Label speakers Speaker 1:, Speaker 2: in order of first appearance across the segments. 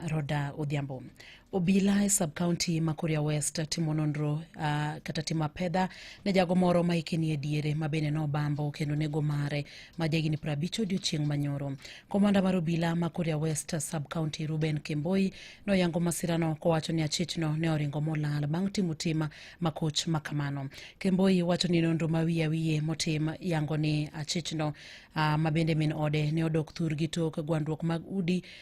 Speaker 1: Roda Odhiambo. Obila e subcounty ma Kuria West timo nonro uh, kata timo apedha ne jago moro ma hike nie diere ma bende nobambo kendo nego mare ma jahigni piero abich odiochieng' manyoro. Komanda mar obila ma Kuria West subcounty Ruben Kemboi noyango masirano kowacho ni achichno ne oringo molal bang' timo tim makoch ma kamano. Kemboi wacho ni nonro ma wiye wiye motim yango ni achichno uh, ma bende min ode ne odok thurgi tok gwandruok mag udi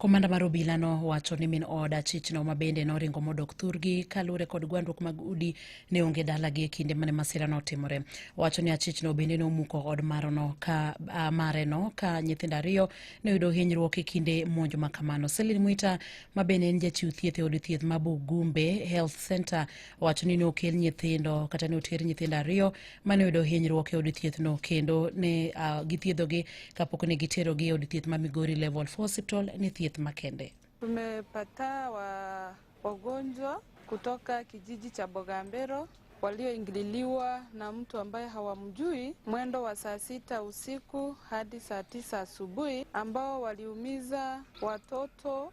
Speaker 1: Komanda mar obila no wacho ni min od achichno ma bende noringo modok thurgi kaluwore kod gwandruok mag udi ne onge dalagi e kinde mane masira no otimore. Wacho ni achichno bende nomuko od marono ka uh, mare no ka nyithindo ariyo ne oyudo hinyruok e kinde monj ma kamano. Selin Mwita ma bende en jachiw thieth e od thieth ma Bugumbe Health Center wacho ni nokel nyithindo kata ne oter nyithindo ariyo mane oyudo hinyruok e od thiethno kendo ne uh, githiedhogi kapok ne giterogi e od thieth ma migori level 4 hospital ni thieth makende Tumepata
Speaker 2: wa wagonjwa kutoka kijiji cha Bogambero walioingililiwa na mtu ambaye hawamjui mwendo wa saa sita usiku hadi saa tisa asubuhi ambao waliumiza watoto